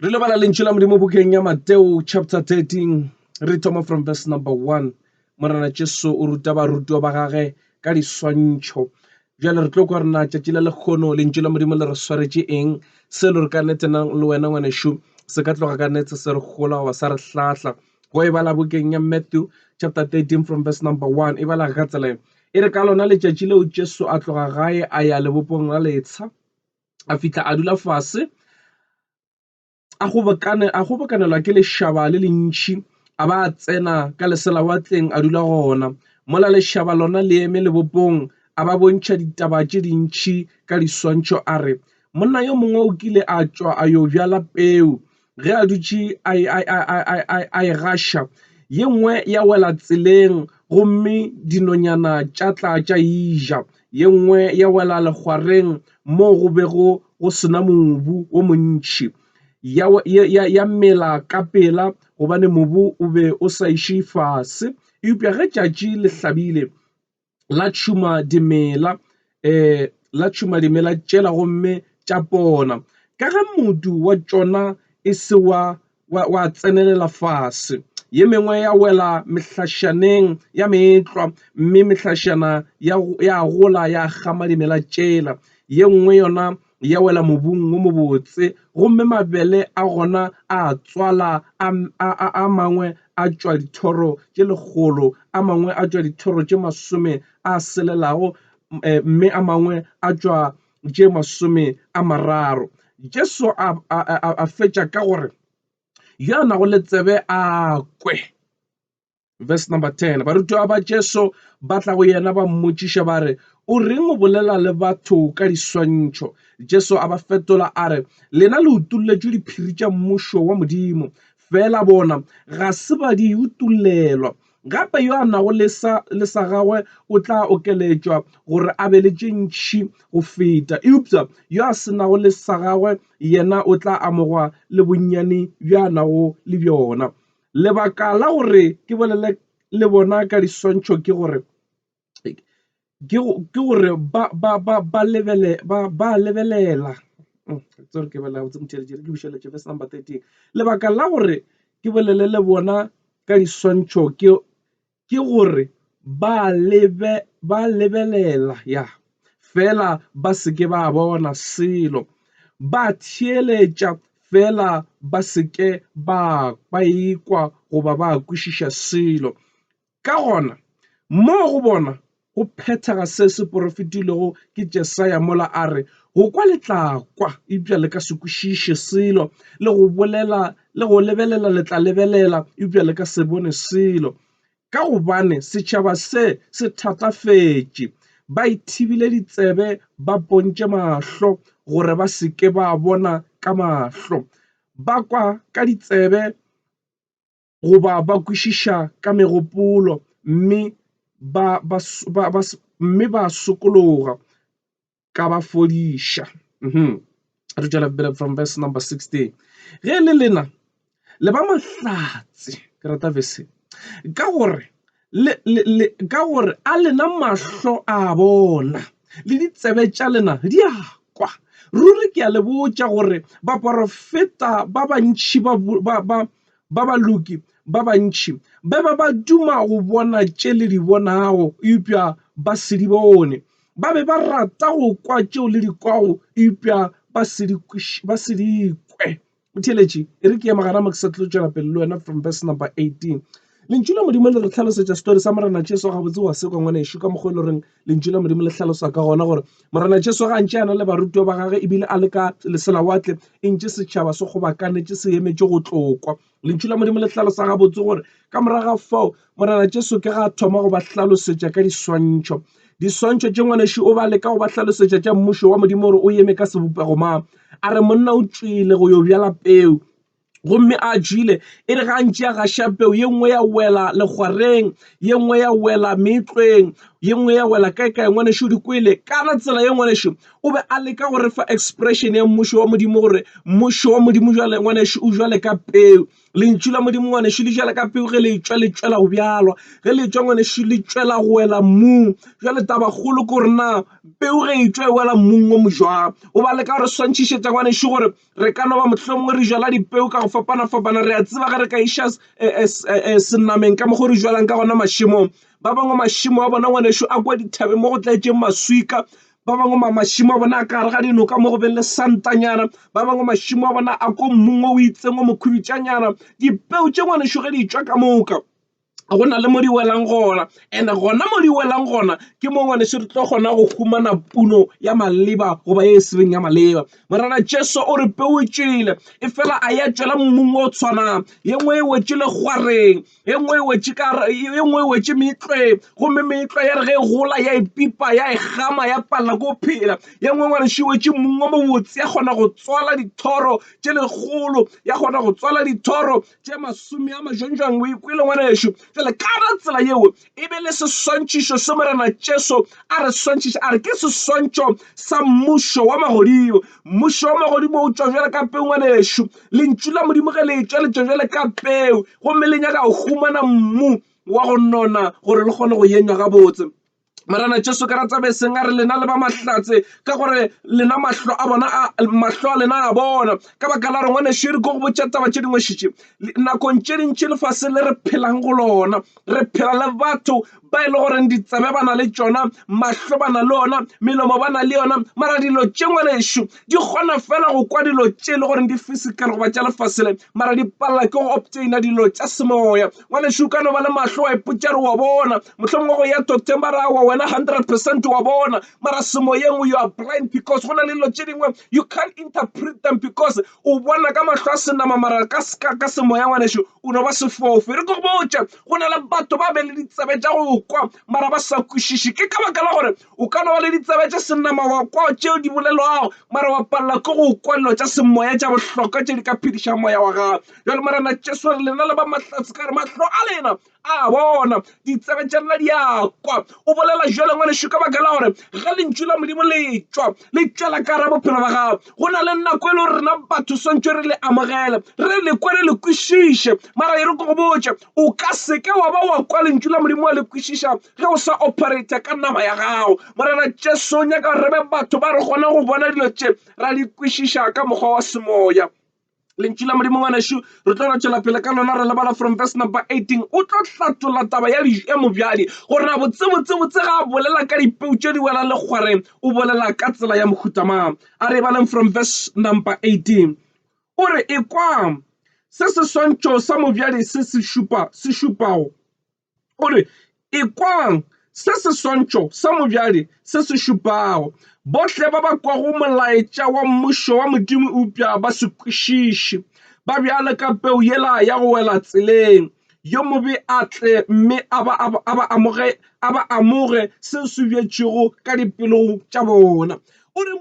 re lebala lentšu la modimo bokeng ya mateo chapter 13 re thoma from verse number 1 morena jesu o ruta barutiwa ba gage ka diswantšho bjale re tlo kwa rena tšatši la lekgono lentšu la modimo le re swaretše eng se lo re ka nete na le wena ngwanešu se ka tloga ka nete se re gola goba sa re hlahla go e bala bokeng ya matthew chapter 13 from verse number 1 e bala ka tsela e re ka lona letšatši leo jesu a tloga gae a ya lebopong la letsha a fihla a dula fase a kgobokanelwa ke lešaba le le ntšhi a ba a tsena ka leselawatleng a dula gona. Mola lešaba lona le eme lebopong a ba bontšha ditaba tše dintšhi ka diswantšho a re, Monna yo mongwe o kile a tšwa a yo bjala peu Ge a dutše a e gaša, ye nngwe ya wela tseleng gomme dinonyana tša tla tša e ja. Ye nngwe ya wela legwareng moo go bego go se na mobu o montši, ya mela ka pela gobane mobu o be o sa iše fase. Eupša ge tšatši le hlabile, la tšhuma dimela la tšhuma dimela tšela gomme tša pona. Ka ge modu wa tšona e se wa wa tsenelela fase ye mengwe ya wela mehlašaneng ya meetlwa mme mehlašana ya gola ya kgama dimela tšela ye nngwe yona ya wela mobung wo mobotse, gomme mabele a gona a tswala, a, a, a, a mangwe a tšwa dithoro tše lekgolo, a mangwe a tšwa dithoro tše masome a selelago, eh, mme a mangwe a tšwa tše masome a mararo. Jesu a, a, a, a fetša ka gore, Yo a nago le tsebe a kwe. verse number 10 barutiwa ba jesu ba tla go yena ba mmotšiša ba re o reng o bolela le batho ka diswantšho jesu a ba fetola a re lena le utolletšwe diphiri tša mmušo wa modimo fela bona ga se ba di utollelwa gape yo a nago le sa le sa gagwe o tla okeletšwa gore a be le tše ntšhi go feta eupša yo a se nago le sa gagwe yena o tla amogwa le bonnyane bjo a nago le bjona Lebaka la gore ke bolele le bona ka diswantšho ke gore ke gore ba lebele ba lebelela tsere ke bela botse motšhelete ke bušeletše verse number 13. Lebaka la gore ke bolele le bona ka diswantšho ke ke gore ba lebe ba lebelela ya fela ba se ke ba bona selo ba theeletša fela ba se ke ba ba ikwa goba ba kwešiša selo ka gona mo go bona Go phethega se se porofetilwego ke Jesaya mola a re, Go kwa le tla kwa, eupša le ka se kwešiše selo, le go bolela, le go lebelela le tla lebelela, eupša le ka se bone selo. Ka gobane setšhaba se se thatafetše, ba ithibile ditsebe, ba pontše mahlo, gore ba se ke ba bona ka mahlo, ba kwa ka ditsebe, goba ba kwešiša ka megopolo mme ba, ba, ba, ba, mme ba sokologa ka ba fodiša mm re tšwela pele from verse number 16 ge le lena le ba mahlatse ke rata verse ka gore le, le, le, ka gore a lena mahlo a bona le ditsebe tša lena di a kwa. Ruri ke a le botša gore baporofeta ba bantši ba, ba, ba, ba baloki ba bantši ba be ba duma go bona tše le di bonago eupša ba se di bone, ba be ba rata go kwa tšeo le di kwago eupša ba se di, ba se di kwe. O theeletše, e re ke ema gana mo ke sa tlo tšwela pele le wena from verse number 18. Lentšu la Modimo le re hlalosetša story sa Morena Jesu gabotse wa sekwa ngwanešu ka mokgwa e le goreng lentšu la Modimo le hlalosa ka gona gore Morena Jesu ga ntše a na le barutwa ba gage ebile a le ka leselawatle e ntše setšhaba se kgobakanetše se emetše go tlokwa. Lentšu la Modimo le hlalosa gabotse gore ka morago ga fao Morena Jesu ke ga thoma go ba hlalosetša ka diswantšho. Diswantšho tše ngwaneši o ba leka go ba hlalosetša tša mmušo wa Modimo gore o yeme ka sebopego ma. A re monna o tšwile go yo bjala peu gomme a jile e re ga ntše a gaša peu ye nngwe ya wela legwareng ye nngwe ya wela meetlweng ye nngwe ya wela kae kae ngwaneši o di kwele kana tsela ye ngwaneši o be a leka go re fa expression ya mmušo wa modimo gore mmušo wa modimo jale ngwaneši o jwale ka peu Lentšu la Modimo ngwanešu le tšwela ka pele ge le etšwa le tšwela go bjalo ge le etšwa ngwanešu le tšwela go wela mmung. Jwale taba kgolo ke gore na peu ge e tšwa e wela mmung o mo jwang. O ba leka gore swantšhišetša ngwanešu gore re ka no ba mohlomongwe re jala dipeu ka go fapana fapana. Re a tseba ge re ka iša senameng ka mokgo re jwalang ka gona mašemong. Ba bangwe mašemo a bona ngwanešu a kwa dithabeng mo go tletseng maswika. ba bangwe mašimo a bona a ka gare ga dinoka mo go beng le santanyana ba bangwe mašimo a bona a ko mmung o itseng o mokhubitšanyana dipeo tše ngwanešo ge di tšwa ka moka go na le mo di welang gona and gona mo di welang gona ke mo ngwaneso re tlo kgona go humana puno ya maleba goba e sebeng ya maleba morena jesu o re peotšele e fela a ya tšwela mmung o tshwanang ye nngwe e wetšele gwareng e nngwe e wetše ka e nngwe e wetše meetlwe gomme meetlwa ya re ge e gola ya e pipa ya e gama ya palela ko phela ye nngwe ngwane še wetše mong o mobotse ya kgona go tswala dithoro tše legolo ya kgona go tswala dithoro tše masome a majonjwang o ikwele ngwana ešo jale kana tsela yeo e be le seswantšhišo se Morena Jesu a re swantšhiša a re ke seswantšho sa mmušo wa magodimo. Mmušo wa magodimo o tšwa bjale ka peu ngwanešu. Lentšu la Modimo ge le tšwa le tšwa bjale ka peu gomme le nyaka go humana mmu wa go nona gore le kgone go yenywa gabotse. Morena Jesu ke rata be seng a re lena le ba mahlatse ka gore lena mahlo a bona mahlo a lena a bona ka baka la re ngwanešu e re ko go botša taba tše dingwešitše Nakong tše dintši lefase le re phelang go lona, re phela le batho ba e le goreng ditsebe ba na le tšona, mahlo ba na le ona, melomo ba na le yona, mara dilo tše ngwanešu di kgona fela go kwa dilo tše e le goreng di physical goba tša lefase le, mara di palela ke go obtaina dilo tša semoya. Ngwanešu o ka no ba le mahlo wa ipotša re wa bona, mohlomongwe go ya doctor ba ra wa wena hundred percent wa bona, mara semoyeng you are blind because go na le dilo tše dingwe you can't interpret them because o bona ka mahlo a senama mara ka seka ka semoya ngwaneso o no ba sefofe re ko botša go na le batho ba be le ditsebe tša go kwa mara ba sa kwešiše ke ka baka la gore o ka no ba le ditsebe tša senama wa kwa tšeo di bolelwago mara wa palela ke go kwa dilo tša semoya tša bohlokwa tše di ka phediša moya wa gago jale morena jesu re lena le ba mahlatse ka re mahlo a lena A bona, ditsebe tša lena di a kwa. O bolela bjalo, ngwanešu, ka baka la gore ge Lentšu la Modimo le tšwa, le tšwela ka gare bophelo ba gago. Go na le nako e le gore rena batho swantšwe re le amogele, re le kwe, re le kwešiše. Mara e re ke go botše, o ka se ke wa ba wa kwa Lentšu la Modimo wa le kwešiša ge o sa operata ka nama ya gago. Morena Jesu o nyaka gore re be batho ba re kgona go bona dilo tše, ra di kwešiša ka mokgwa wa semoya. lentšu la modimo ngwanešu re tlo ratšwela pele ka lona re lebala from verse number 18 o tlo hlatola taba ya ya mobjadi gore na botsebotsebotse ga a bolela ka dipeu tše di welang le kgwareng o bolela ka tsela ya mohutamang a re baleng from verse number 18 o re ekwang se seswantšho sa mobjadi se se šupa se šupago Gore, Ekwang, se seswantšho sa mobjadi se se šupago. Bohle ba ba kwago molaetša wa Mmušo wa Modimo eupša ba se kwešiše, ba bjalo ka peu yela ya go wela tseleng, yo mobe a tle mme a ba amoge, a ba amoge seo se bjetšwego ka dipelong tša bona. O re,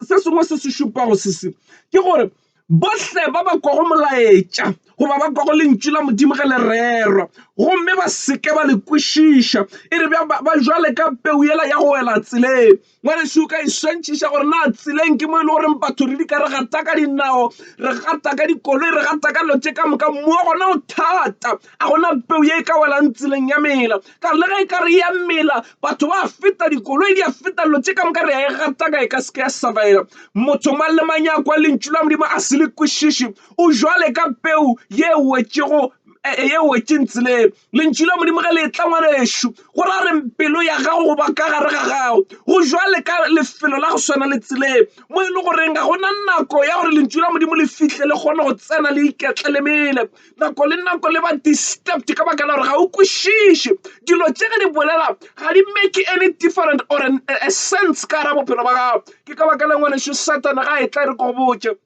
Se sengwe se se šupago se se, ke gore, bohle ba ba kwago molaetša goba ba kwago lentšu la Modimo ge le rerwa gomme ba seke ba le kwešiša e re ba jwale ka peu yela ya go wela tseleng. Ngwaneso o ka e swantšhiša gore na tseleng ke mo e le goreng batho re di ka re gata ka dinao re gata ka dikoloi re gata ka dilo tše ka moka mo gona o thata a gona peu ye e ka welang tseleng ya mela Ka re le ge e ka re e a mela, batho ba a feta, dikoloi di a feta, dilo tše ka moka re a e gataka e ka se ke ya surviva. Motho mang le mang ya kwa lentšu la Modimo a se le kwešiši o jwale ka peu ye e wetšego e, e, ye e wetšeng tseleng. Lentšu la Modimo ge le etla, ngwanešu, go ra reng pelo ya gago go ba ka gare ga gago go jwale ka lefelo la go swana le tseleng mo e le goreng ga go na nako ya gore lentšu la Modimo le fihle le kgone go tsena le iketlele mele. nako le nako le ba disturbed ka baka la gore ga o kwešiše dilo tše ge di bolela ga di make any different or an, a, a sense ka gara bophelo ba gago ke ka baka la ngwaneso satana ga e tla re go botse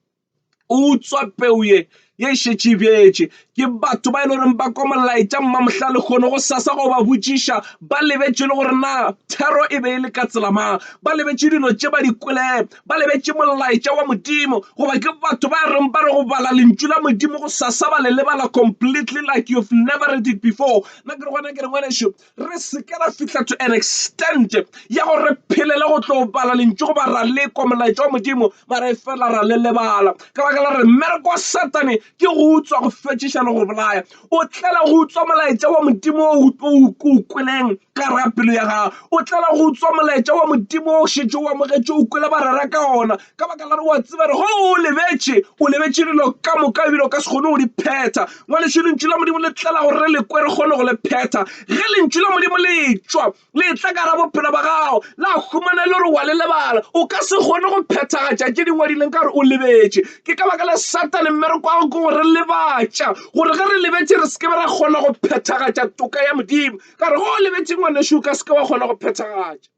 o utswa peu ye ye e šetše e bjetše ke batho ba e le goreng ba kwa molaetša mmamohla le kgone go sasa go ba botšiša ba lebetše le gore na thero e be e le ka tselamang ba lebetše dilo tše ba di kwele ba lebetše molaetša wa Modimo, goba ke batho ba reng ba re go bala lentšu la Modimo go sasa ba le lebala completely like you've never read it before. Na ke re gona ke re ngwanešu, re seke ra fihla to an extent ya go re phelele go tlo bala lentšu goba ra lekwa molaetša wa Modimo mara e fela ra le lebala ka baka la re mmereko wa Satane ke go utswa go fetšiša le go bolaya o tlela go utswa molaetša wa modimo o o kweleng ka ra pelo ya gago o tlela go utswa molaetša wa modimo o šetše o amogetše o kwele ba rera ka ona ka baka la re wa tseba re go o lebetše o lebetše dilo ka moka ebile o ka se kgone go di phetha ngwaneso lentšu la modimo le tlela gore re le kwe re kgone go le phetha ge lentšu la modimo le tšwa Letlaka la bophelo bja gago la humana e le gore wa le lebala. O ka se kgone go phethagatša tše di ngwadileng ka gore o lebetše. Ke ka baka la Satane mmereko wa gagwe ke go re lebatša, gore ge re lebetše re se ke be ra kgona go phethagatša toka ya Modimo. Ka re ge o lebetše ngwanešu o ka se ke wa kgona go phethagatša.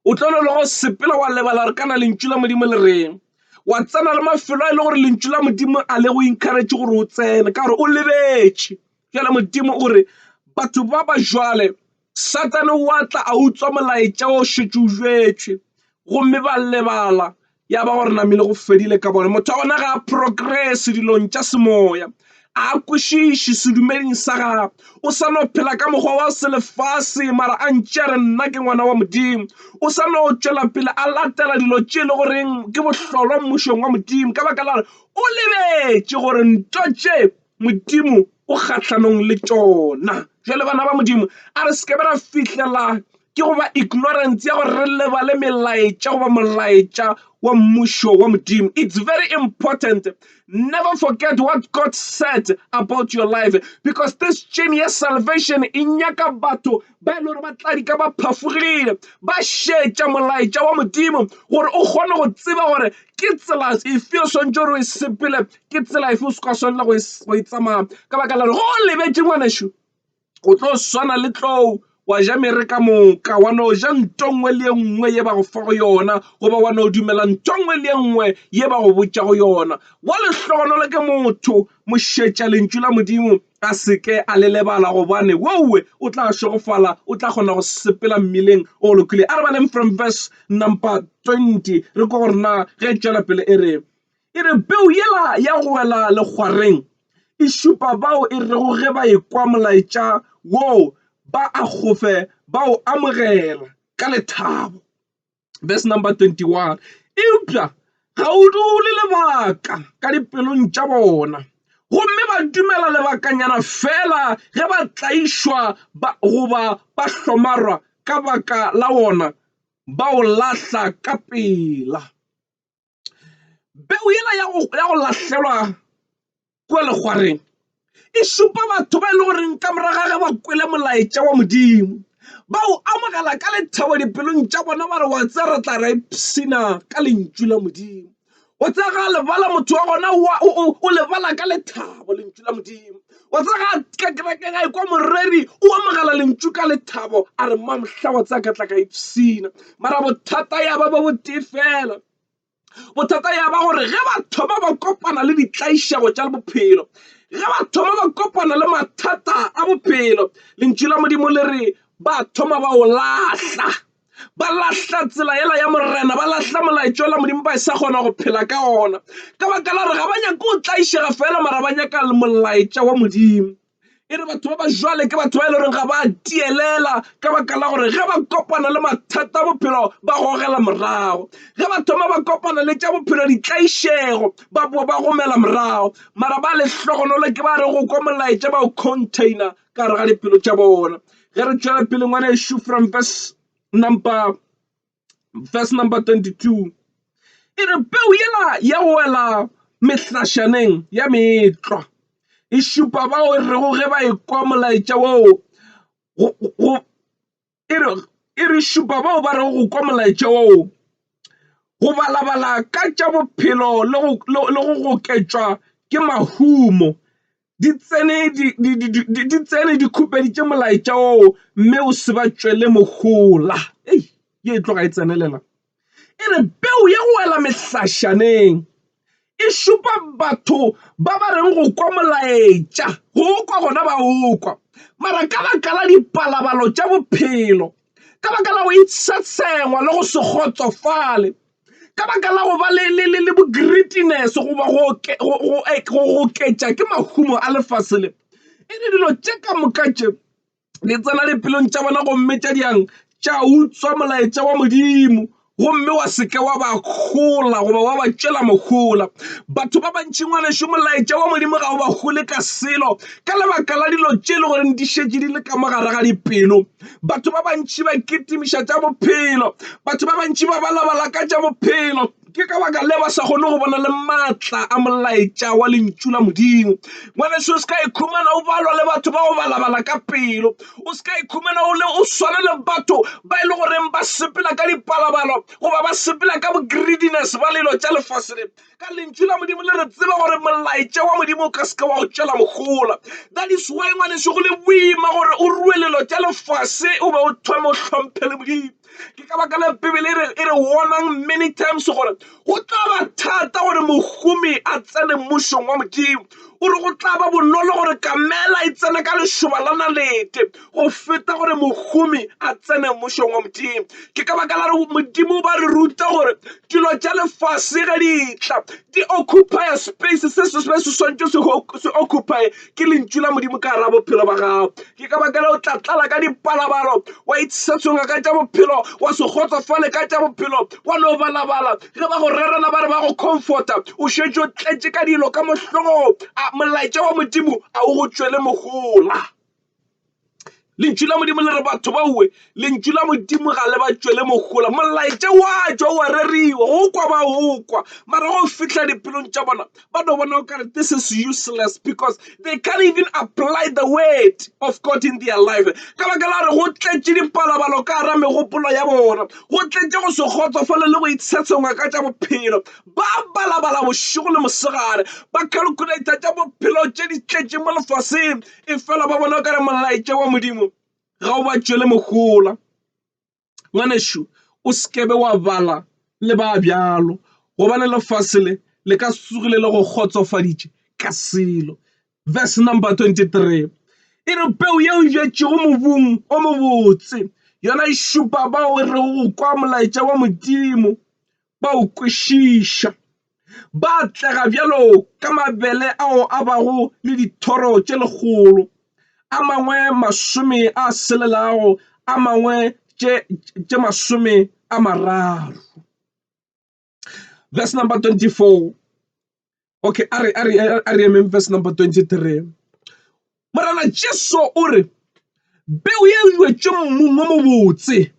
O tlo no le go sepela wa lebala gore kana lentšu la Modimo le reng. Wa tsena le mafelo a e le gore lentšu la Modimo a le go encourage gore o tsene ka gore o lebetše. Bjale Modimo o re, Batho ba ba bjale, Sathane o a tla a utswa molaetša o šetše o jwetšwe, gomme ba lebala ya ba gore namile go fedile ka bona. Motho wa gona ga a progress dilong tša semoya, a kwešiše sedumeding sa gagwe, o sa no phela ka mokgwa wa selefase, mara a ntše a re nna ke ngwana wa Modimo. O sa no tšwela pele a latela dilo tše e le goreng ke bohlolwa mmušong wa Modimo, ka baka la gore o lebetše gore nto tše Modimo o kgahlanong le tšona. Jwale bana ba Modimo, a re seke ra fihlela ke go ba ignorance ya gore re lebale melaetša goba molaetša wa mmušo wa Modimo. It's very important. Never forget what God said about your life because this chain ya salvation e nyaka batho ba e le gore ba tla di ka ba phafogile ba šetša molaetša wa Modimo gore o kgone go tseba gore ke tsela efe o swantse gore o e sepele Ke tsela efe o se ka swanela go e tsamaya? Ka baka la gore go o lebetše ngwanešu, o tlo swana le tlou wa ja mere ka moka wa no ja nto nngwe le e nngwe ye ba go fa go yona goba wa no dumela nto nngwe le e nngwe ye ba go botša go yona wa lehlogonolo ke motho mošetša lentšu la modimo a seke a le lebala gobane wowe o tla šegofala o tla kgona go sepela mmileng o go lokile a re baleng from verse number 20 re ko gore na ge e tšwela pele e re E re, Peu yela ya go wela legwareng e šupa bao e rego ge ba ekwa molaetša wo ba a gofe ba o amogela ka lethabo. Verse number 21, Eupša ga o dule lebaka ka dipelong tša bona, gomme ba dumela lebakanyana feela ge ba tlaišwa goba ba hlomarwa ka baka la wona, ba o lahla ka pela. Peu yela ya go ya go lahlelwa kwa legwareng e šupa batho ba e le goreng ka morago ga ge ba kwele molaetša wa modimo ba o amogela ka lethabo dipelong tša bona ba re wa tse re tla re ipshina ka lentšu la modimo o tsega lebala motho wa gona o lebala ka lethabo lentšu la modimo wa tseba ga ka kerekeng a ekwa moreri o amogela lentšu ka lethabo a re mma mohla wa tsaya ka tla ka ipshina mara bothata ya ba ba botee fela bothata ya ba gore ge ba thoma ba kopana le ditlaišego tša bophelo ge ba thoma ba kopana le mathata a bophelo lentšu la modimo le re ba thoma ba o lahla ba lahla tsela ela ya morena ba lahla molaetša ola modimo ba e sa kgona go phela ka ona ka baka la gore ga ba nyake o tlaišega fela mara ba nyaka molaetša wa modimo e re batho ba ba jwale ke batho ba e le goreng ga ba tielela ka baka la gore ge ba kopana le mathata a bophelo ba gogela morago ge ba thoma ba kopana le tša bophelo ditlaišego ba boa ba gomela morago mara ba lehlogonolo ke ba re go kwa molaetša ba o container ka gare ga dipelo tša bona ge re tšwela pele ngwana ešo from verse number verse number 22 e re peu yela ya wela mehlašaneng ya metlwa e šupa bao e rego ge ba ekwa molaetša woo e re šupa bao ba rego go kwa molaetša woo go balabala ka tša bophelo le go goketšwa ke mahumo. Di tsene di tsene di khupeditše molaetša woo mme o se ba tšwele mohola. Ye e tloga e tsenelela. e re peu ya go wela mehlašaneng e šupa batho ba ba reng go kwa molaetša go kwa gona ba o kwa mara ka baka la dipalabalo tša bophelo ka baka la go itshwatshengwa le go se kgotsofale ka baka la go ba le bo-greediness goba go oketša ke mahumo a lefase le e re dilo tše ka moka tše. le tsena dipelong tša bona gomme tša diang tša utswa molaetša wa Modimo gomme wa seke wa ba kgola goba wa ba tšwela mohola batho ba bantši ngwaneso molaetša wa Modimo ga o ba gole ka selo ka lebaka la dilo tše e le goreng di šetše di le ka mo gare ga dipelo batho ba bantši ba kitimiša tša bophelo batho ba bantši ba balabala ka tša bophelo Ke ka baka le ba sa kgone go bona le maatla a molaetša wa lentšu la Modimo. Ngwaneso, o se ka ikhumana o balwa le batho ba go balabala ka pelo. O se ka ikhumana o le o swana le batho ba e le goreng ba sepela ka dipalabalo goba ba sepela ka greediness ba lelo tša lefase le. Ka lentšu la Modimo le re tseba gore molaetša wa Modimo o ka seke wa o tšwela mohola. That is why ngwaneso go le boima gore o rue lelo tša lefase o be o thome o hlomphele Modimo. Ke ka baka la Bibele e re e re warnang many times gore go tla ba thata gore mohumi a tsene mmušong wa modimo o re go tla ba bonolo gore kamela e tsene ka lešoba la nalete go feta gore mohumi a tsene mmušong wa modimo ke ka baka la re modimo ba re ruta gore dilo tša lefase ge di tla di occupy space se se swantse se occupy ke lentšu la modimo ka ra bophelo ba gago ke ka baka le o tla tlala ka dipalabalo wa itshetsonga ka tša bophelo wa se kgotsofale ka tša bophelo wa no balabala ge ba go rerela ba re ba go comforta o šetše o tletše ka dilo ka mohlogong a molaetša wa modimo a o go tšwele mogola lentšu la modimo le re batho baowe lentšu la modimo ga le ba tšwele mogola molaetša wa tšwa wa reriwa go kwa ba go kwa mara go fihla dipelong tša bona ba no bona o kare this is useless because they can't even apply the word of god in their life ka baka la re go tletše dipalabalo ka gara megopolo ya bona go tletše go se kgotsofale le go itshetshengwa ka tša bophelo ba balabala bošego le mosegare ba calculator tša bophelo tše di tletše mo lefaseng e fela ba bona o kare molaetša wa Modimo ga o ba tšwele mohola. Ngwanešu o sekebe wa bala le ba bjalo gobane lefase le le ka sugile le go kgotsofaditše ka selo. Verse number 23 e re peu yeo e jatšego mobung o mobotse yona e šupa bao e rego go kwa molaetša wa Modimo ba o kwešiša. Ba atlega bjalo ka mabele ao a bago le dithoro tše lekgolo, a mangwe masome a selelago, a mangwe tše masome a mararo. Verse number 24. Okay, a re, a re, a re emeng verse number 23. Morena Jesu o re, Peu ye e jwetšwe mmung o mobotse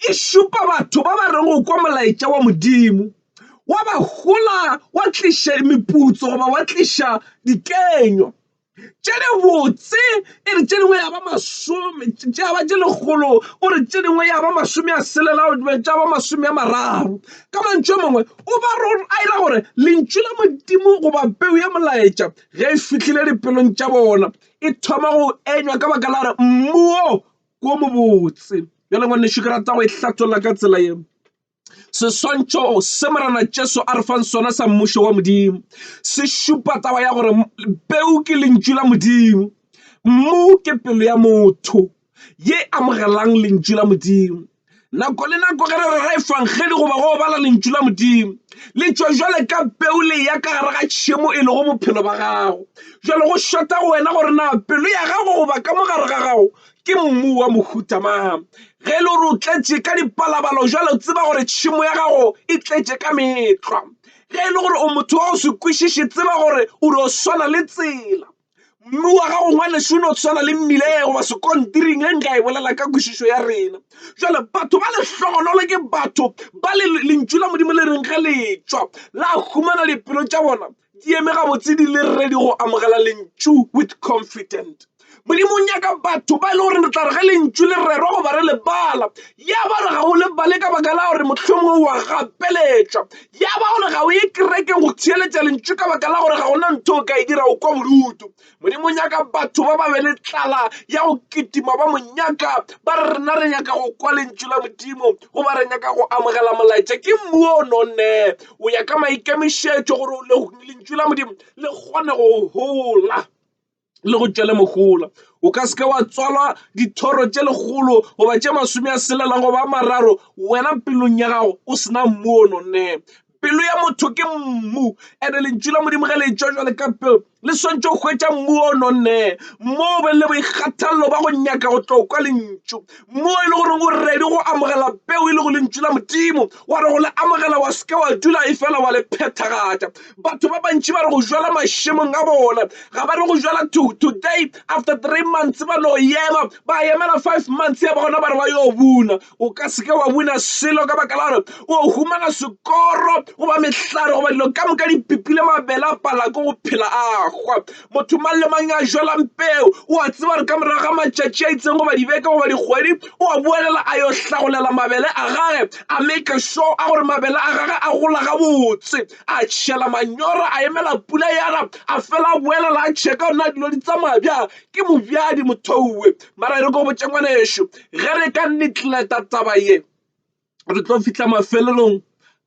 e šupa batho ba ba reng go kwa molaetša wa Modimo, wa ba hola, wa tliša meputso goba wa tliša dikenywa. tše di botse e re tše dingwe ya ba masome tša ba tše lekgolo o re tše dingwe ya ba masome a selelao tša ba masome a mararo ka mantšu a mangwe o ba a ira gore lentšu la modimo goba peu ya molaetša ge e fihlile dipelong tša bona e thoma go enywa ka baka la re mmuo wo mobotse bjale ngwanešu ke rata go e hlatolla ka tsela yeo Seswantšho se Morena Jesu a re fang sona sa mmušo wa Modimo se šupa taba ya gore peu ke lentšu la Modimo, mmu ke pelo ya motho ye amogelang lentšu la Modimo. Nako le nako ge re rera efangedi goba go bala lentšu la Modimo le tšwa jwale ka peu le ya ka gare ga tšhemo e lego bophelo ba gago. Jwale go šota go wena gore na pelo ya gago goba ka mo gare ga gago ke mmu wa mohuta mang ge e le gore o tletše ka dipalabalo jalo tseba gore tšhemo ya gago e tletše ka metlwa ge e le gore o motho wa go se kwešiše tseba gore o dio swana le tsela mmu wa gago ngwaneso o no tshwana le mmile goba sekontiring e nka e bolela ka kwešišo ya rena jale batho ba lehlogonolo ke batho ba le lentšu la modimo le reng ge letswa la humana dipelo tša bona Di eme gabotse di le ready go amogela lentšu with confident. Modimo o nyaka batho ba e le gore re tla re ge lentšu le rerwa goba re le bala ya ba gore ga o le bale ka baka la gore mohlomongwe wa gapeletšwa ya ba gore ga o ye kerekeng go theeletša lentšu ka baka la gore ga gona ntho o ka e dira o kwa bodutu Modimo o nyaka batho ba ba be le tlala ya go kitima ba mo nyaka. Ba re rena re nyaka go kwa lentšu la Modimo goba re nyaka go amogela molaetša. Ke mmu o nonne o ya ka maikemišetšo gore lentšu la Modimo le kgone go hola le go tšwele mohola. O ka seke wa tswalwa dithoro tše lekgolo goba tše masome a selelang goba a mararo wena pelong ya gago o sena mmu o nonne. Pelo ya motho ke mmu, and lentšu la Modimo ge le etšwa bjale ka pelo le swantšwe go hwetša mmu o nonneng, mmu o be le boikgathalelo ba go nyaka go tlo kwa lentšu, mmu e le gore o ready go amogela peo e le go lentšu la Modimo, wa re go le amogela wa seke wa dula e fela wa le phethagatša. Batho ba bantši ba re go jala mašemong a bona, ga ba re go jala to today after three months ba no ema, ba emela five months ya ba gona ba re ba yo buna. o ka seke wa wina selo ka baka la gore o humana sekoro goba mehlare goba dilo ka moka di pipile mabele a pala ko go phela a hwa motho mang le mang a jwalang peo o a tseba gore ka morago ga matšatši a itseng goba dibeke goba dikgwedi o a boelela a yo hlagolela mabele a gage a make sure a gore mabele a gage a gola gabotse a tšhela manyora a emela pula yana a fela a boelela a checka ona dilo di tsamaya bjang ke mobjadi mothouwe Mara e re ko botse ngwanešu ge re ka negleta taba ye re tlo fihla mafelelong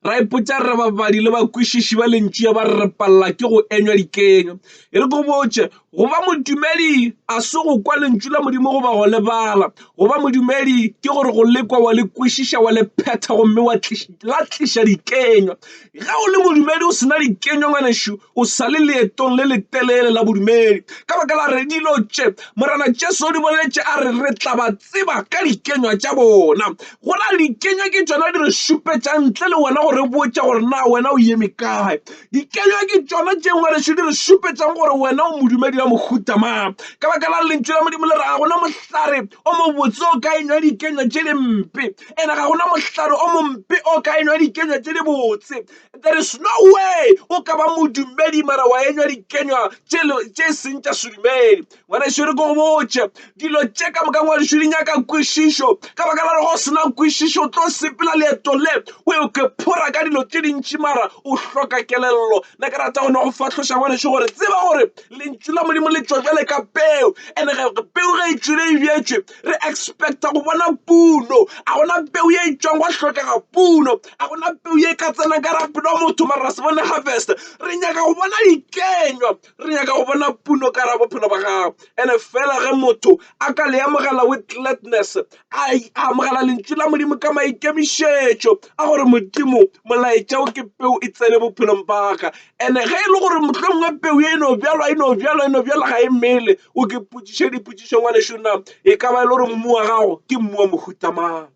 ra ipotsa re babadi le bakwešiši ba lentšu ya ba re palela ke go enywa dikenywa e re ko botse go ba modumedi a se go kwa lentšu la modimo goba go lebala go ba modumedi ke gore go lekwa wa le kwešiša wa le phetha gomme wa la tliša dikenywa Ge o le modumedi o se na dikenywa, ngwanešu, o sa le leetong le letelele la bodumedi. Ka baka la re dilo tše Morena Jesu o di boletše a re re tla ba tseba ka dikenywa tša bona. Go na dikenywa ke tšona di re šupetšang ntle le wena go re botša gore na wena o eme kae. Dikenywa ke tšona tše ngwanešu di re šupetšang gore wena o modumedi wa mohuta mang. Ka baka la Lentšu la Modimo le re ga gona mohlare o mobotse o ka enywa dikenywa tše di mpe. ene ga gona mohlare o mompe o ka enwa dikenywa tše di botse there is no way o ka ba modumedi mara wa enywa dikenywa tše e seng tša sedumedi ngwaneso re ko botše dilo tše ka moka ngwaneso di nyaka kwešišo ka baka la go sena kwešišo o tlo sepela leeto le o yo ke phora ka dilo tše dintši mara o hloka kelello ne ke rata go ne go fahloša ngwaneso gore tseba gore lentšu la modimo le tšwa jale ka peo and-e peo ge e tšwile e bjetšwe re expecta go bona puno a gona peu ye e tšwang go hlokega puno a gona peu ye e ka tsenang ka rapelo wa motho mara se bone harvest re nyaka go bona dikenywa re nyaka go bona puno ka ra bophelo ba gago ene fela ge motho a ka le amogela with gladness a amogela lentšu la modimo ka maikemišetšo a gore modimo molaetša o ke peu e tsene bophelong ba ka ene ge e le gore mohlomongwe peu e no bjalwa e no bjalwa e no bjalwa ga e mele o ke potšiše dipotšišo ngwanešu na e ka ba e le gore mmu wa gago ke mmu wa mohuta mang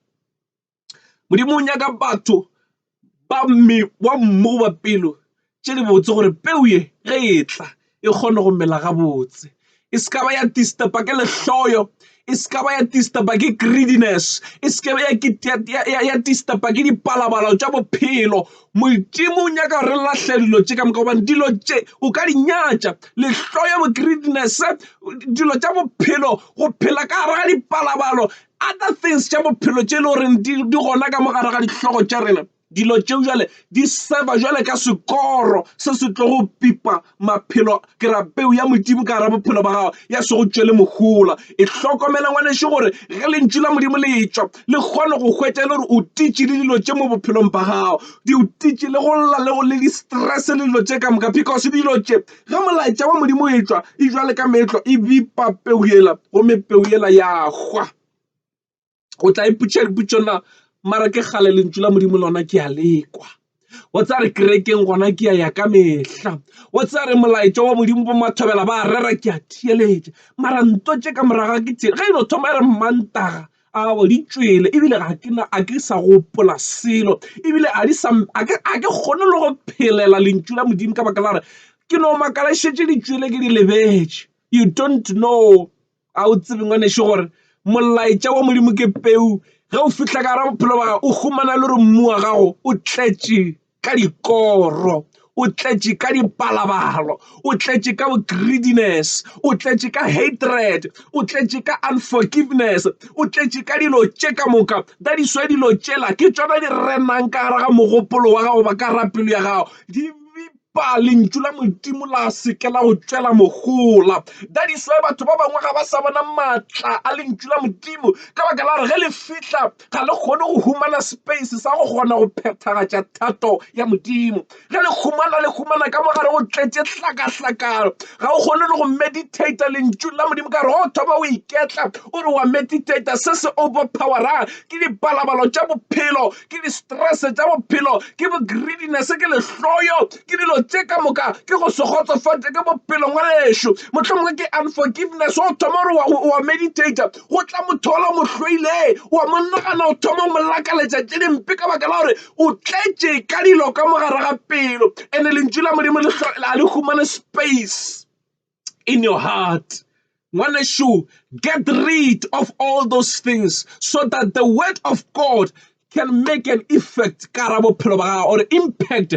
modimo o nyaka batho ba mme wa mmu goba pelo tše di botse gore peu ye ge e tla e kgone go mela gabotse e se ka ba ya disturba ke lehloyo e se ka ba ya disturba ke greediness e se ke be ya disturba ke dipalabalo tša bophelo. Modimo o nyaka re lahle dilo tše ka moka gobane dilo tše o ka di nyatša lehlo ya bo greediness dilo tša bophelo go phela ka gare ga dipalabalo other things tša bophelo tše e le goreng di gona ka mo gare ga dihlogo tša rena. Dilo tšeo jwale di serve-a jwale ka sekoro se se tlo go pipa maphelo Ke ra peu ya Modimo ka gara bophelo ba gago ya se go tšwele mohola. E hlokomele ngwaneše gore ge lentšu la Modimo le tšwa le kgone go hwetša e le gore o titše le dilo tše mo bophelong ba gago. Di o titše le go lla le go le di-stress le dilo tše ka moka because dilo tše ge molaetša wa Modimo e tšwa e jwa le ka meetlo e bipa peu yela gomme peu yela ya hwa. o tla ipotšiša dipotšišo na mara ke kgale lentšu la modimo lona ke a lekwa wa tsa re kerekeng gona ke ya ya ka mehla wa tsa re molaetša wa modimo bo mathobela ba rera ke a theeletša mara nto tše ka moraga ke tšee ge e no thoma e re mmantaga awa di tšwele ebile ga ke na a ke sa gopola selo ebile a di sa a ke a ke kgone le go phelela lentšu la modimo ka baka la gore ke no makala šetše di tšwele ke di lebetše you don't know A o tsebe ngwanešu gore molaetša wa Modimo ke peu? Ge o fihla ka ra bophelo ba gago o humana le gore mmu wa gago o tletše ka dikoro o tletše ka dipalabalo o tletše ka bo-greediness o tletše ka hatred o tletše ka unforgiveness o tletše ka dilo tše ka moka that is why dilo tšela ke tsona di renang ka gare ga mogopolo wa gago ba ka ra pelo ya gago Epa lentšu la Modimo la se ke la go tšwela mogola. That is why batho ba bangwe ga ba sa bona maatla a lentšu la Modimo ka baka la gore ge le fihla ga le kgone go humana space sa go kgona go phethagatša thato ya Modimo. Ge le humana le humana ka mogare go tletše hlakahlakano ga o kgone le go meditator lentšu la Modimo ka gore go thoma o iketla o re wa meditator se se overpowera ke dipalabalo tša bophelo ke di-stress tša bophelo ke bo greediness ke lehloyo ke dilo tše ka moka ke go se kgotsofate ke bophelo ngwanešu mohlomongwe ke unforgiveness o thoma gore wa meditator go tla motho ola mo hloile wa mo nagana o thoma mo lakaletša tše dimpe ka baka la gore o tletše ka dilo ka mogare ga pelo and-e lentšu la modimo le le humane space in your heart. Ngwaneshu, get rid of all those things so that the word of God can make an effect or impact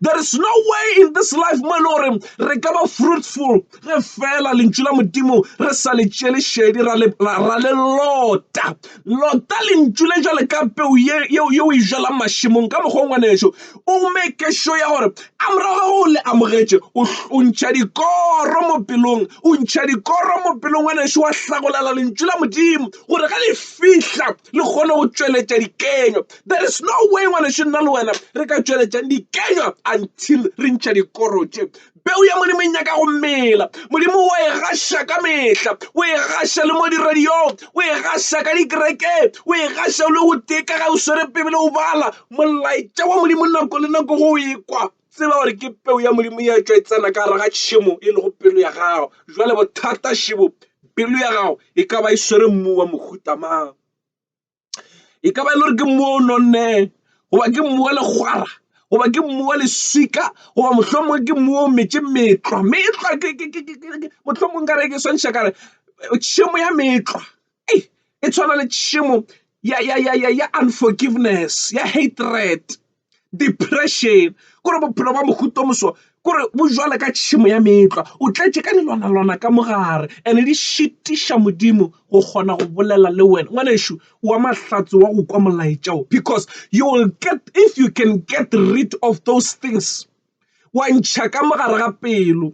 there is no way in this life mo e re ka ba fruitful ge fela lentšu la modimo re sa le tšele šedi ra le lota lota lentšu le jale ka peu yeo e jalang mašemong ka mokgwa ngwaneso o make sure ya gore a morago ga go le amogetše o ntšha dikoro mo pelong o ntšha dikoro mo pelong wa nešo wa hlagolela lentšu la modimo gore ge le fihla le kgone go tšweletša dikenywa there is no way ngwaneso nna le wena re ka tšweletšang dikenywa until re ntšha dikoro tše Peu ya Modimo e nyaka go mela. Modimo o e gaša ka mehla, o e gaša le mo diradiong, o e gaša ka dikerekeng, o e gaša le go teka ga o swere Bibele o bala. Molaetša wa Modimo nako le nako go ekwa tseba gore ke peu ya Modimo ya tšwa e tsena ka gare ga tšhemo e lego pelo ya gago. Jwale bothata šebo, pelo ya gago e ka ba e swere mmu wa mohuta mang? e ka ba e le gore ke mmu o nonneng goba ke mmu wa legwara goba ke mmu wa leswika goba mohlomongwe ke mmu o metse metlwa me etlwa mohlomongwe ka re ke swantšha kare tšhemo ya metlwa e e tshwana le tšhemo ya unforgiveness, ya hatred. depression kore bophelo ba mohuta o moswa kore bo jwalo ka tšhemo ya meetlwa o tletše ka dilwana lwana ka mogare and di šitiša Modimo go kgona go bolela le wena ngwanešu wa mahlatse wa go kwa molaetša o because you will get if you can get rid of those things wa ntšha ka mogare ga pelo.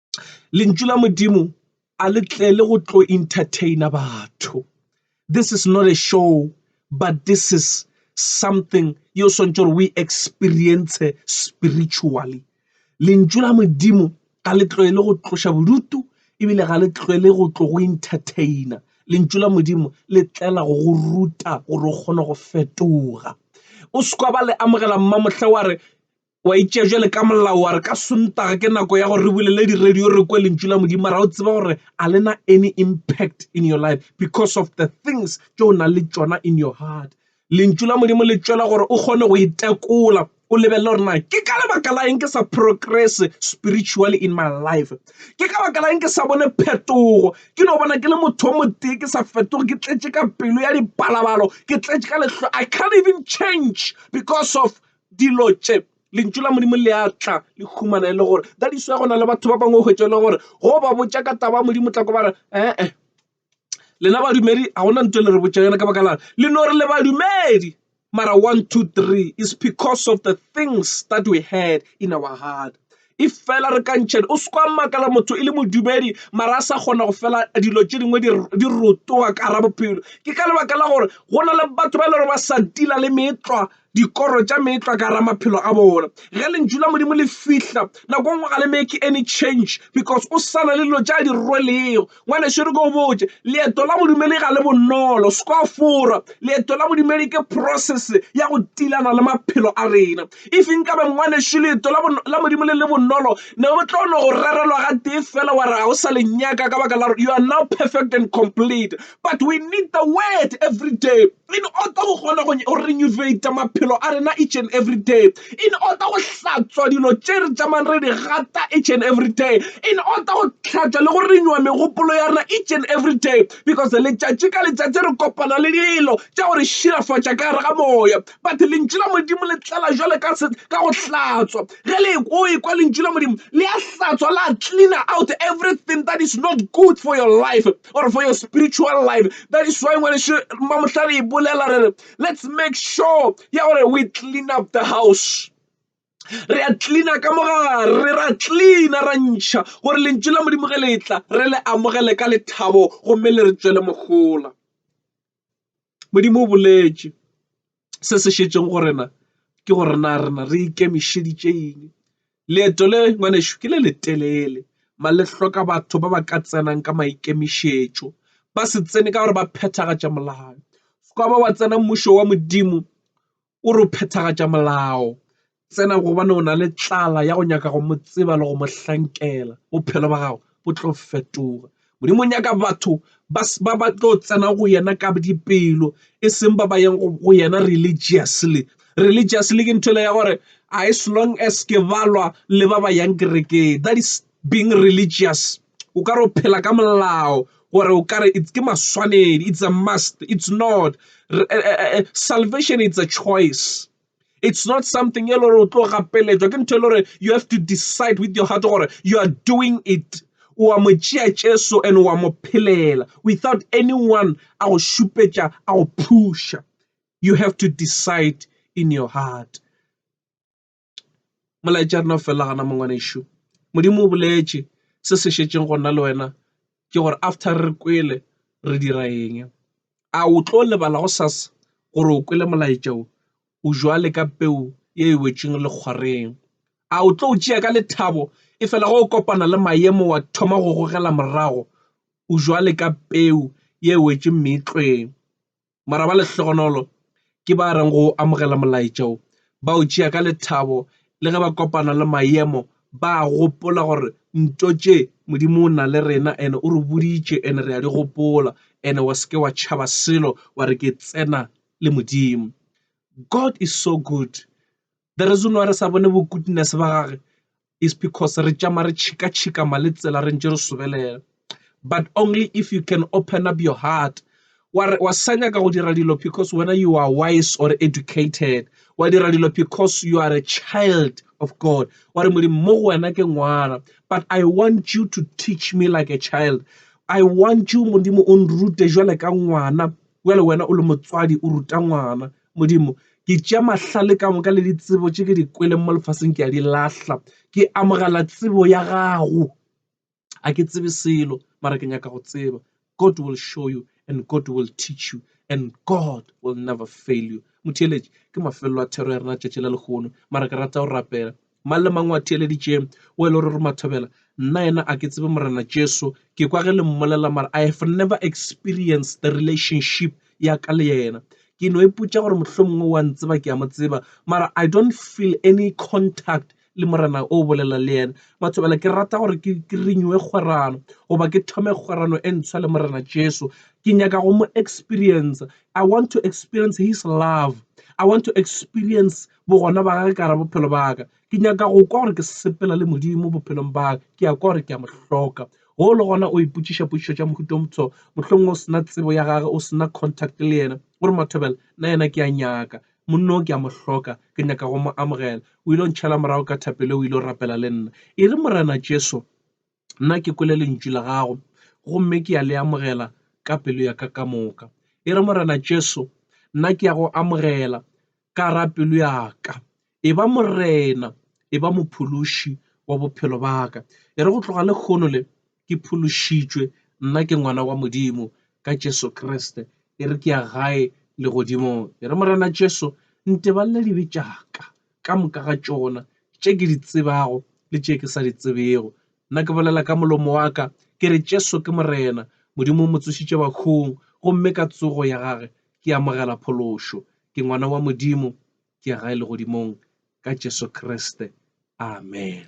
Lentšu la Modimo a le tle le go tlo entertaina batho. This is not a show, but this is something yo swantšho gore we experience spiritually. Lentšu la Modimo ga le tloe le go tloša bodutu ebile ga le tloe le go tlo go entertaina. Lentšu la Modimo le tlela go go ruta gore o kgone go fetoga. O se ba le amogela mmamohle wa re O a itšea bjale ka molao wa re ka Sontaga ke nako ya gore re bulele di-radio re kwe lentšu la Modimo. Mara o tseba gore a le na any impact in your life because of the things tše o nang le tšona in your heart. Lentšu la Modimo le tšwela gore o kgone go itekola o lebelele gore na ke ka lebaka la eng ke sa progress spiritually in my life. Ke ka baka la eng ke sa bone phetogo ke no bona ke le motho o motee ke sa fetoge ke tletše ka pelo ya dipalabalo ke tletše ka lehlo I can't even change because of Dilo tše, Lentšu la Modimo le a tla le humana e le gore. That is why go na le batho ba bangwe o hwetša e le gore go ba botša ka taba ya Modimo tla ko ba re ee lena badumedi ga gona nto le re botša yona ka baka lana le no re le badumedi mara one two three is because of the things that we had in our heart e fela re ka ntšhane. O se ke wa makala motho e le modumedi mara a sa kgona go fela dilo tše dingwe di di rotoga ka gare bophelo. Ke ka lebaka la gore go na le batho ba e leng gore ba sa tila le meetlwa dikoro tša meetlwa ka gare maphelo a bona. Ge lentšu la Modimo le fihla nako engwe ga le make any change because o sa na le dilo tša di rwelego. Ngwanešu re ko botše, leeto la bodumedi ga le bonolo. Se kwa fora, leeto la bodumedi ke process ya go tilana le maphelo a rena. If nkabe ngwanešu leeto la, la Modimo le le bonolo, ne o tlo no go rerelwa ga tee fela wa re ga o sa le nyaka ka baka la gore you are now perfect and complete. But we need the word every day. In order go kgona go renovate maphelo a rena each and every day. In order go hlatswa dilo tše re tšamang re di gata each and every day. In order go hlatswa le go renewa megopolo ya rena each and every day. Because letšatši ka letšatši re kopana le dilo tša go re šilafatša ka gare ga moya. But lentšu la Modimo le tlala jwale ka se ka go hlatswa. Ge le o ekwa lentšu la Modimo le a hlatswa la cleaner out everything that is not good for your life. or for your spiritual life. That is why when Mamuhlari Bulela, let's make sure yeah, we clean up the house. re a tlina ka mogare re ra tlina ra ntšha gore lentšu la modimo ge le tla re le amogele ka lethabo gomme le re tswele mogola Modimo o boletše se se šetšego go rena ke gore na rena re ikemišeditše eng. Leeto le ngwanešu ke le le telele mare le hloka batho ba ba ka tsenang ka maikemišetšo. Ba se tsene ka gore ba phethagatša molao. Sekaba wa tsena mmušo wa Modimo o re o phethagatša molao. Tsena gobane o na le tlala ya go nyaka go mo tseba le go mo hlankela. Bophelo ba gago bo tlo fetoga. Modimo o nyaka batho ba ba tlo tsena go yena ka dipelo e seng ba ba yang go yena religiously. Religiously ke ntho ele ya gore as long as ke balwa le ba ba yang kerekeng that is being religious. O ka re o phela ka molao gore o kare it's ke maswanedi it's a must it's not eh, eh, eh, salvation it's a choice it's not something e le gore o tlo gapeletšwa ke ntho e le gore you have to decide with your heart gore you are doing it o a mo tšea jesu and o a mo phelela without anyone a go šupetša a go phusha you have to decide in your heart Molaetša wa rena o felela gona mo ngwanešu. Modimo o boletše se se šetšego go nna le wena ke gore after re kwele re dira eng. A o tlo lebala gosasa gore o kwele molaetša wo? O bjalo ka peu ye e wetšego lekgwareng. A o tlo tšea ka lethabo e fela ge o kopana le maemo wa thoma go gogela morago? O bjalo ka peu ye wetše meetlweng. mara ba lehlogonolo ke ba reng go amogela molaetša wo, ba o tšea ka lethabo le ge ba kopana le maemo, ba a gopola gore nto tše Modimo o na le rena ene o re boditše ene re a di gopola ene wa seke wa tšhaba selo wa re ke tsena le Modimo. God is so good. The reason why re sa bone bo goodness ba gage is because re tšama re tšhikatšhika ma le tsela re ntše re sobelela but only if you can open up your heart wa re wa sa nyaka go dira dilo because wena you are wise or educated wa dira dilo because you are a child of god wa re modimo mo go wena ke ngwana but i want you to teach me like a child i want you modimo o nrute jwale ka ngwana jwale wena o le motswadi o ruta ngwana Modimo, ke tšea mahlale ka moka le ditsebo tše ke di kweleng mo lefaseng ke a di lahla. Ke amogela tsebo ya gago. A ke tsebe selo, mara ke nyaka go tseba. God will show you and God will teach you and God will never fail you. Motheeletši, ke mafelelo a thero ya rena tšatši la lehono, mara ke rata go rapela. Mang le mang o a theeleditše, o e le ruri Mathobela, nna yena a ke tsebe Morena Jesu, ke kwa ge le mmolela mara I have never experienced the relationship ya ka le yena. Ke no ipotša gore mohlomongwe wa ntseba ke a mo tseba mara I don't feel any contact le morena o bolela le yena mathobela ke rata gore ke ke renewe kgwerano goba ke thome kgwerano e ntshwa le morena jesu ke nyaka go mo experience i want to experience his love i want to experience bogona ba gage ka gara bophelo ba ka ke nyaka go kwa gore ke sepela le modimo bophelong ba ka ke ya kwa gore ke a mo hloka go le gona o ipotšiša potšišo tša mohuto o motsho mohlomongwe o sena tsebo ya gage o sena contact le yena gore mathobela nna yena ke a nyaka monno ke a mo hloka ke nyaka go mo amogela o ile o ntšhela morago ka thapelo o ile o rapela le nna e re morena jesu Nna ke kwele lentšu la gago gomme ke ya le amogela ka pelo ya ka ka moka. E re Morena Jesu, nna ke ya go amogela ka ra pelo ya ka. E ba Morena, e ba mophološi wa bophelo ba ka. E re go tloga le kgono le ke phološitšwe, nna ke ngwana wa Modimo ka Jesu Kriste. E re ke ya gae legodimong. E re Morena Jesu, nteballe dibe tša ka. ka moka ga tšona, tše ke di tsebago le tše ke sa di tsebego. Nna ke bolela ka molomo wa ka, ke re, Jesu ke Morena. Modimo o mo tsošitše bahung, gomme ka tsogo ya gage ke amogela phološo. Ke ngwana wa Modimo, ke ya gae legodimong ka Jesu Kriste. Amen.